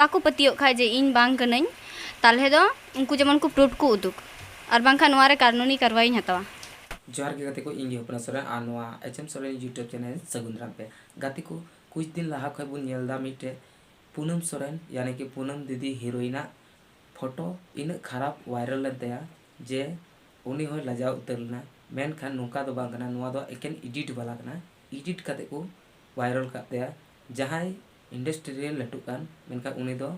ᱵᱟᱠᱚ ᱯᱟᱹᱛᱭᱟᱹᱜ ᱠᱷᱟᱡ ᱡᱮ ᱤᱧ ᱵᱟᱝ ᱠᱟᱹᱱᱟᱹᱧ ᱛᱟᱞᱦᱮ ᱫᱚ ᱩᱱᱠᱩ ᱡᱮᱢᱚᱱ ᱠᱚ ᱯᱨᱩᱯᱷ ᱠᱚ ᱩᱫᱩᱜ ᱟᱨ ᱵᱟᱝᱠᱷᱟᱡ ᱱᱚᱣᱟ ᱨᱮ ᱠᱟᱨᱱᱩᱱᱤ ᱠᱟᱨᱣᱟᱭᱤᱧ ᱦᱟᱛᱟᱣᱟ᱾ ᱡᱚᱦᱟᱨ ᱜᱮ ᱜᱟᱛᱮ ᱠᱚ ᱤᱧ ᱜᱮ ᱦᱚᱯᱱᱟ ᱥᱚᱨᱮᱱ ᱟᱨ ᱱᱚᱣᱟ H M Soren YouTube channel ᱨᱮ ᱥᱟᱹᱜᱩᱱ ᱫᱟᱨᱟᱢ ᱯᱮ ᱜᱟᱛᱮ ᱠᱚ ᱠᱩᱪ ᱫᱤᱱ ᱞᱟᱦᱟ ᱠᱷᱚᱡ ᱵᱚᱱ ᱧᱮᱞ ᱫᱟ ᱢᱤᱫᱴᱮᱡ ᱯᱩᱱᱟᱹᱢ ᱥᱚᱨᱮᱱ ᱭᱟᱱᱤ ᱠᱤ ᱯᱩᱱᱟᱹᱢ ᱫᱤᱫᱤ ᱦᱤᱨᱳᱭᱤᱱ ᱟᱜ ᱯᱷᱚᱴᱚ ᱤᱱᱟᱹᱜ ᱠᱷᱟᱨᱟᱯ ᱣᱟᱭᱨᱟᱞ ᱞᱮᱱ ᱛᱟᱭᱟ ᱡᱮ ᱩᱱᱤ ᱦᱚᱸᱭ ᱞᱟᱡᱟᱣ ᱩᱛᱟᱹᱨ ᱞᱮᱱᱟ ᱢᱮᱱᱠᱷᱟᱱ ᱱᱚᱝᱠᱟ ᱫᱚ ᱵᱟᱝ ᱠᱟᱱᱟ ᱱᱚᱣᱟ ᱫᱚ ᱮᱠᱮᱱ ᱤᱰᱤᱴ ᱵᱟᱞᱟ ᱠᱟᱱᱟ ᱤᱰᱤᱴ ᱠᱟᱛᱮ ᱠᱚ ᱣᱟᱭᱨᱟᱞ ᱠᱟᱜ ᱛᱟᱭᱟ ᱡᱟᱦᱟᱸᱭ ᱤᱱᱰᱟᱥᱴᱨᱤ ᱨᱮ ᱞᱟᱹᱴᱩᱜ ᱠᱟᱱ ᱢᱮᱱᱠᱷᱟᱱ ᱩᱱᱤ ᱫᱚ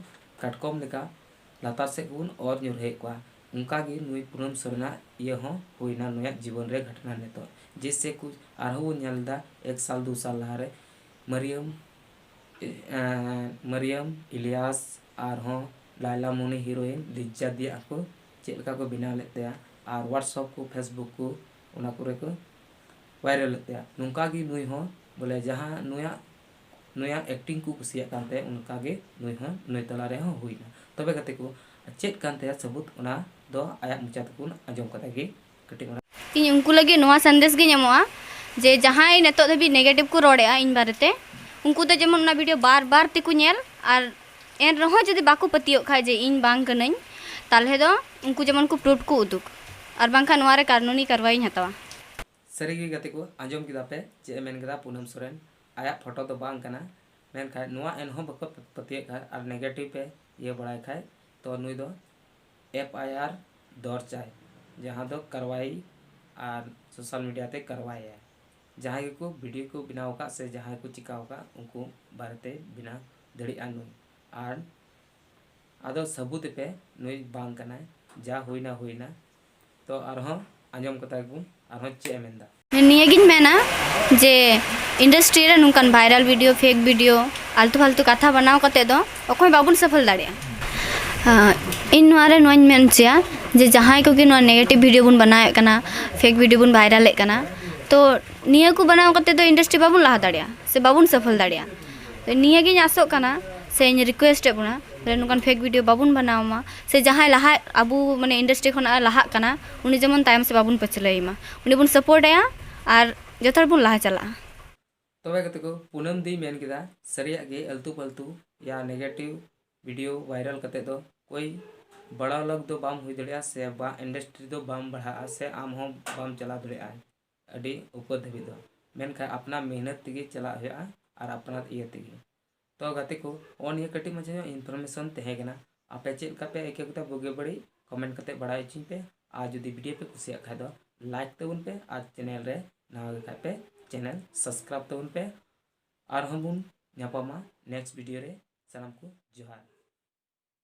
ᱠᱟᱴᱠᱚᱢ ᱞᱮᱠᱟ ᱞᱟᱛᱟᱨ ᱥᱮᱫ ᱜᱮᱵᱚᱱ ᱚᱨ ᱧᱩᱨᱦᱟᱹᱭᱮᱫ ᱠᱚᱣᱟ ᱚᱱᱠᱟ ᱜᱮ ᱱᱩᱭ ᱯᱩᱱᱟᱹᱢ ᱥᱚᱨᱮᱱ ᱟᱜ ᱤᱭᱟᱹ ᱦᱚᱸ ᱦᱩᱭ ᱮᱱᱟ ᱱᱩᱭᱟᱜ ᱡᱤᱵᱚᱱ ᱨᱮ ᱜᱷᱚᱴᱚᱱᱟ ᱱᱤᱛᱚᱜ ᱡᱮᱭᱥᱮ ᱠᱩᱪ ᱟᱨ ᱦᱚᱸ ᱵᱚᱱ ᱧᱮᱞ ᱮᱫᱟ ᱮᱠ ᱥᱟᱞ ᱫᱩ ᱥᱟᱞ ᱞᱟᱦᱟ ᱨᱮ ᱢᱟᱹᱨᱤᱭᱟᱹᱢ ᱢᱟᱹᱨᱤᱭᱟᱹᱢ ᱤᱞᱤᱭᱟᱥ ᱟᱨ ᱦᱚᱸ ᱞᱟᱭᱞᱟ ᱢᱩᱱᱤ ᱦᱤᱨᱳᱭᱤᱱ ᱞᱤᱡᱡᱟ ᱫᱤᱭᱟ ᱠᱚ ᱪᱮᱫ ᱞᱮᱠᱟ ᱠᱚ ᱵᱮᱱᱟᱣ ᱞᱮᱫ ᱛᱟᱭᱟ ᱟᱨ ᱦᱳᱣᱟᱴᱥᱚᱯ ᱠᱚ ᱯᱷᱮᱥᱵᱩᱠ ᱠᱚ ᱚᱱᱟ ᱠᱚᱨᱮ ᱠᱚ ᱵᱷᱟᱭᱨᱟᱞ ᱮᱫ ᱛᱟᱭᱟ ᱱᱚᱝᱠᱟ ᱜᱮ ᱱᱩᱭ ᱦᱚᱸ ᱵᱚᱞᱮ ᱡᱟᱦᱟᱸ ᱱᱩᱭᱟᱜ ᱱᱩᱭᱟᱜ ᱮᱠᱴᱤᱝ ᱠᱚ ᱠᱩᱥᱤᱭᱟᱜ ᱠᱟᱱ ᱛᱟᱭᱟ ᱚᱱᱠᱟ ᱜᱮ ᱱᱩᱭ ᱦᱚᱸ ᱱᱩᱭ ᱛᱟᱞᱟ ᱨᱮ ᱦᱚᱸ ᱦᱩᱭ ᱮᱱᱟ ᱛᱚᱵᱮ ᱜᱟᱛᱮ ᱠᱚ ᱪᱮᱫ ᱠᱟᱱ ᱛᱟᱭᱟ ᱥᱟᱹᱵᱩᱫᱽ ᱚᱱᱟ ᱫᱚ ᱟᱭᱟᱜ ᱢᱚᱪᱟ ᱛᱮ ᱵᱚᱱ ᱟᱸᱡᱚᱢ ᱠᱟᱛᱮ ᱜᱮ ᱠᱟᱹᱴᱤᱡ ᱚᱱᱟ᱾ ᱤᱧ ᱩᱱᱠᱩ ᱞᱟᱹᱜᱤᱫ ᱱᱚᱣᱟ ᱥᱟᱸᱫᱮᱥ ᱜᱮᱧ ᱮᱢᱚᱜᱼᱟ ᱡᱮ ᱡᱟᱦᱟᱸᱭ ᱱᱤᱛᱚᱜ ᱫᱷᱟᱹᱵᱤᱡ ᱱᱮᱜᱮᱴᱤᱵᱷ ᱠᱚ ᱨᱚᱲᱮᱫᱼᱟ ᱤᱧ ᱵᱟᱨᱮ ᱛᱮ ᱩᱱᱠᱩ ᱫᱚ ᱡᱮᱢᱚᱱ ᱚᱱᱟ ᱵᱷᱤᱰᱤᱭᱳ ᱵᱟᱨ ᱵᱟᱨ ᱛᱮ ᱠᱚ ᱧᱮᱞ ᱟᱨ ᱮᱱ ᱨᱮᱦᱚᱸ ᱡᱩᱫᱤ ᱵᱟᱠᱚ ᱯᱟᱹᱛᱭᱟᱹᱜ ᱠᱷᱟᱱ ᱡᱮ ᱤᱧ ᱵᱟᱝ ᱠᱟᱹᱱᱟᱹᱧ ᱛᱟᱦᱚᱞᱮ ᱫᱚ ᱩᱱᱠᱩ ᱡᱮᱢᱚᱱ ᱠᱚ ᱯᱨᱩᱯᱷ ᱠᱚ ᱩᱫᱩᱜᱽ ᱟᱨ ᱵᱟᱝᱠᱷᱟᱱ ᱱᱚᱣᱟ ᱨᱮ ᱠᱟᱹᱱᱩᱱᱤ ᱠᱟᱨᱣᱟᱭᱤᱧ ᱦᱟᱛᱟᱣᱟ᱾ ᱥᱟᱹᱨᱤ ᱜᱮ ᱜᱟᱛᱮ ᱠᱚ ᱟᱸᱡᱚᱢ ᱠᱮᱫᱟ ᱯᱮ ᱪᱮᱫ ᱮ ᱢᱮᱱ ᱠᱮᱫᱟ ᱯᱩᱱᱟᱢ ᱥᱚᱨᱮᱱ ᱟᱭᱟᱜ ᱯᱷᱚᱴᱚ ᱫᱚ ᱵᱟᱝ ᱠᱟᱱᱟ ᱢᱮᱱᱠᱷᱟᱱ ᱱᱚᱣᱟ ᱮᱱᱦᱚᱸ ᱵᱟᱠᱚ ᱯᱟᱹᱛᱭᱟᱹᱜ ᱠᱷᱟᱱ ᱟᱨ ᱱᱮᱜᱮᱴᱤᱵᱷ ᱯᱮ ᱤᱭᱟᱹ ᱵᱟᱲᱟᱭ ᱠᱷᱟᱱ ᱛᱚ ᱱᱩᱭ ᱫᱚ ᱮᱯᱷ ᱟᱭ ᱟᱨ ᱫᱚᱨᱪᱟᱭ ᱡᱟᱦᱟᱸ ᱫᱚ ᱠᱟᱨᱣᱟᱭ ᱟᱨ ᱥᱳᱥᱟᱞ ᱢᱤᱰᱤᱭᱟ ᱛᱮ ᱠᱟᱨᱣᱟᱭᱟᱭ ᱡᱟᱦᱟᱸᱭ ᱜᱮᱠᱚ ᱵᱷᱤᱰᱤᱭᱳ ᱠᱚ ᱵᱮᱱᱟᱣ ᱟᱠᱟᱫ ᱥᱮ ᱡᱟᱦᱟᱸᱭ ᱠᱚ ᱪᱤᱠᱟᱹ ᱟᱠᱟᱫ ᱩᱱᱠᱩ ᱵᱟᱨᱮᱛᱮ ᱵᱮᱱᱟᱣ ᱫᱟᱲᱮᱭᱟᱜᱼᱟ ᱱᱩᱭ ᱟᱨ ᱟᱫᱚ ᱥᱟᱹᱵᱩᱛ ᱮᱯᱮ ᱱᱩᱭ ᱵᱟᱝ ᱠᱟᱱᱟᱭ ᱡᱟ ᱦᱩᱭᱮᱱᱟ ᱦᱩᱭᱮᱱᱟ ᱛᱚ ᱟᱨᱦᱚᱸ ᱟᱸᱡᱚᱢ ᱠᱟᱛᱟ ᱜᱮᱵᱚᱱ ᱟᱨᱦᱚᱸ ᱪᱮᱫ ᱮ ᱢᱮᱱᱫᱟ ᱱᱤᱭᱟᱹ ᱜᱤᱧ ᱢᱮᱱᱟ ᱡᱮ ᱤᱱᱰᱟᱥᱴᱨᱤ ᱨᱮ ᱱᱚᱝᱠᱟᱱ ᱵᱷᱟᱭᱨᱟᱞ ᱵᱷᱤᱰᱤᱭᱳ ᱯᱷᱮᱠ ᱵᱷᱤᱰᱤᱭᱳ ᱟᱞᱛᱩ ᱯᱷᱟᱞᱛᱩ ᱠᱟᱛᱷᱟ ᱵᱟᱱᱟᱣ ᱠᱟᱛᱮ ᱫᱚ ᱚᱠᱚᱭ ᱵᱟᱵᱚᱱ ᱥᱚᱯᱷᱚᱞ ᱫᱟᱲᱮᱭᱟᱜᱼᱟ ᱤᱧ ᱱᱚᱣᱟ ᱨᱮ ᱱᱚᱣᱟᱧ ᱢᱮᱱ ᱦᱚᱪᱚᱭᱟ ᱡᱮ ᱡᱟᱦᱟᱸᱭ ᱠᱚᱜᱮ ᱱᱚᱣᱟ ᱱᱮᱜᱮᱴᱤᱵᱷ ᱵᱷᱤᱰᱤᱭᱳ ᱵᱚᱱ ᱵᱟᱱᱟᱣᱮᱫ ᱠᱟᱱᱟ ᱯᱷᱮᱠ ᱵᱷᱤᱰᱤᱭᱳ ᱵᱚᱱ ᱵᱷᱟᱭᱨᱟᱞᱮᱫ ᱠᱟᱱᱟ ᱛᱚ ᱱᱤᱭᱟᱹ ᱠᱚ ᱵᱟᱱᱟᱣ ᱠᱟᱛᱮ ᱫᱚ ᱤᱱᱰᱟᱥᱴᱨᱤ ᱵᱟᱵᱚᱱ ᱞᱟᱦᱟ ᱫᱟᱲᱮᱭᱟᱜᱼᱟ ᱥᱮ ᱵᱟᱵᱚᱱ ᱥᱚᱯᱷᱚᱞ ᱫᱟᱲᱮᱭᱟᱜᱼᱟ ᱱᱤᱭᱟᱹ ᱜᱤᱧ ᱟᱥᱚᱜ ᱠᱟᱱᱟ ᱥᱮᱧ ᱨᱤᱠᱩᱭᱮᱥᱴ ᱮᱫ ᱵᱚᱱᱟ ᱱᱚᱝᱠᱟᱱ ᱯᱷᱮᱠ ᱵᱷᱤᱰᱤᱭᱳ ᱵᱟᱵᱚᱱ ᱵᱟᱱᱟᱣ ᱢᱟ ᱥᱮ ᱡᱟᱦᱟᱸᱭ ᱞᱟᱦᱟᱜ ᱟᱵᱚ ᱢᱟᱱᱮ ᱤᱱᱰᱟᱥᱴᱨᱤ ᱠᱷᱚᱱᱟᱜ ᱮ ᱞᱟᱦᱟᱜ ᱠᱟᱱᱟ ᱩᱱᱤ ᱡᱮᱢᱚᱱ ᱛᱟᱭᱚᱢ ᱥᱮᱫ ᱵᱟᱵᱚᱱ ᱯᱟᱹᱪᱷᱞᱟᱹᱭᱮ ᱢᱟ ᱩᱱᱤ ᱵᱚᱱ ᱥᱟᱯᱳᱨᱴ ᱟᱭᱟ ᱟᱨ ᱡᱚᱛᱚ ᱦᱚᱲ ᱵᱚᱱ ᱞᱟᱦᱟ ᱪᱟᱞᱟᱜᱼᱟ ᱛᱚᱵᱮ ᱜᱟᱛᱮ ᱠᱚ ᱯᱩᱱᱟᱹᱢ ᱫᱤᱭ ᱢᱮᱱ ᱠᱮᱫᱟ ᱥᱟᱹᱨᱤᱭᱟᱜ ᱜᱮ ᱟᱹᱞᱛᱩ ᱯᱷᱟᱹᱞᱛᱩ ᱭᱟ ᱱᱮᱜᱮᱴᱤᱵᱷ ᱵᱷᱤᱰᱤᱭᱳ ᱵᱷᱟᱭᱨᱟᱞ ᱠᱟᱛᱮ ᱫᱚ ᱠᱳᱭ ᱵᱟᱲᱟ ᱞᱚᱜᱽ ᱫᱚ ᱵᱟᱢ ᱦᱩᱭ ᱫᱟᱲᱮᱭᱟᱜᱼᱟ ᱥᱮ ᱵᱟ ᱤᱱᱰᱟᱥᱴᱨᱤ ᱫᱚ ᱵᱟᱢ ᱵᱟᱲᱦᱟᱜᱼᱟ ᱥᱮ ᱟᱢ ᱦᱚᱸ ᱵᱟᱢ ᱪᱟᱞᱟᱣ ᱫᱟᱲᱮᱭᱟᱜᱼᱟ ᱟᱹᱰᱤ ᱩᱯᱟᱹᱨ ᱫᱷᱟᱹᱵᱤᱡ ᱫᱚ ᱢᱮᱱᱠᱷᱟᱱ ᱟᱯᱱᱟᱨ ᱢᱮᱦᱱᱚᱛ ᱛᱮᱜᱮ ᱪᱟᱞᱟᱜ ᱦᱩᱭᱩᱜᱼᱟ ᱟᱨ ᱟᱯᱱᱟᱨ ᱤᱭᱟᱹ ᱛᱮᱜᱮ ᱛᱚ ᱜᱟᱛᱮ ᱠᱚ ᱱᱚᱜᱼᱚ ᱱᱤᱭᱟᱹ ᱠᱟᱹᱴᱤᱡ ᱢᱟᱪᱷᱟ ᱧᱚᱜ ᱤᱱᱯᱷᱚᱨᱢᱮᱥᱚᱱ ᱛᱟᱦᱮᱸ ᱠᱟᱱᱟ ᱟᱯᱮ ᱪᱮᱫ ᱞᱮᱠᱟ ᱯᱮ ᱟᱹᱭᱠᱟᱹᱣ ᱠᱮᱫᱟ ᱵᱩᱜᱤ ᱵᱟᱹᱲᱤᱡ ᱠᱚᱢᱮᱱᱴ ᱠᱟᱛᱮ ᱵᱟᱲᱟᱭ ᱦᱚᱪᱚᱧ ᱯᱮ ᱟᱨ ᱡᱩᱫᱤ ᱵᱷᱤᱰᱤᱭᱳ ᱯᱮ ᱠᱩᱥᱤᱭᱟᱜ ᱠᱷᱟᱡ ᱫᱚ ᱞᱟᱭᱤᱠ ᱛᱟᱵᱚᱱ ᱯᱮ ᱟᱨ ᱪᱮᱱᱮᱞ ᱨᱮ ᱱᱟᱣᱟ ᱜᱮ ᱠᱷᱟᱡ ᱯᱮ ᱪᱮᱱᱮᱞ ᱥᱟᱵᱥᱠᱨᱟᱭᱤᱵ ᱛᱟᱵᱚᱱ ᱯᱮ ᱟᱨᱦᱚᱸ ᱵᱚᱱ ᱧᱟᱯᱟᱢᱟ ᱱᱮᱠᱥᱴ ᱵᱷᱤᱰᱤᱭᱳ ᱨᱮ ᱥᱟᱱᱟᱢ ᱠᱚ ᱡᱚᱦᱟᱨ